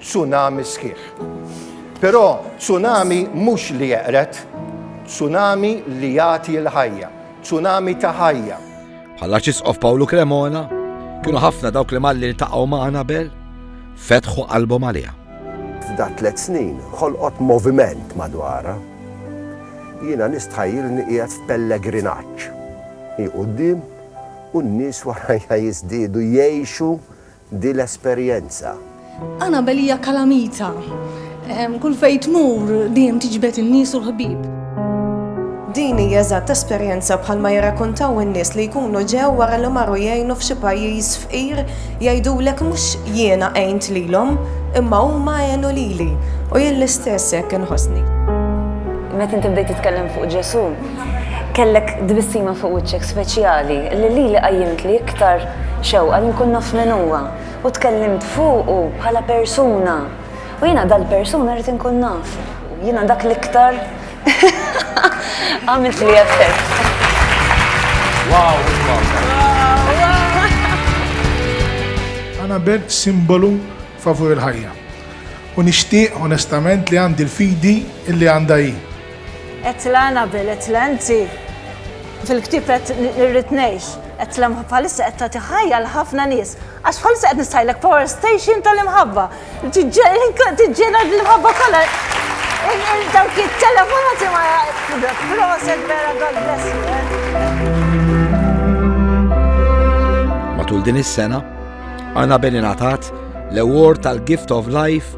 tsunami sħiħ. Però tsunami mhux li jeqred, tsunami li jagħti l-ħajja, tsunami ta' ħajja. Bħall-Arċisqof Pawlu Cremona, kienu ħafna dawk li malli ltaqgħu ma' Anabel, fetħu qalbhom għaliha. F'da tliet snin ħolqot moviment madwarha. Jiena nistħajjilni qiegħed f'pellegrinaġġ. Hi quddiem u n-nies warajja jiżdiedu jgħixu Di l-esperjenza. Annabel hija kalamita. Kull fejn tmur dejjem tiġbed in-nies u l-ħbieb. Din hi eżatt esperjenza bħal ma jirrakuntaw in-nies li jkunu ġew wara li marru jgħinu f'xi pajjiż fqir jgħidulek mhux jiena għint lilhom imma huma għenu lili u jien l-istess hekk inħossni. Meta inti bdejt titkellem fuq Ġesù, kellek tbissima fuq wiċċek speċjali li lili qajjimtli iktar Xewqa li nkun naf min huwa u tkellimt fuqu bħala persuna u jiena dal-persuna rrid inkun naf. Jiena dak l-iktar għamiltli effett. Wow, Anabel simbolu favur il-ħajja u nixtieq onestament li għandi l-fidi li għandha hi. Qedtilha Annabel, qedtilha inti fil-ktieb qed irrid ngħix, qedtilha bħalissa qed tagħti ħajja għal ħafna nies. Għax bħalissa qed nistħajlek power station tal-imħabba. Tiġġena l-imħabba kollha. Dawk it-telefonati ma proset vera God bless you. Eh. Matul din is-sena, Annabel ingħatat l-award tal-Gift of Life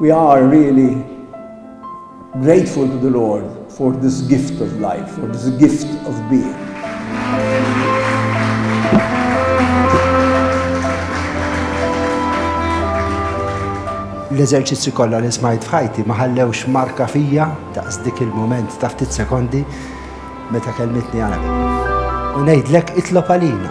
We are really grateful to the Lord for this gift of life, for this gift of being. l-eżerċizzi kollha li smajt f'ħajti ma ħallewx marka fija daqs dik il-moment ta' ftit sekondi meta kelmitni għana. U ngħidlek itlob għalina.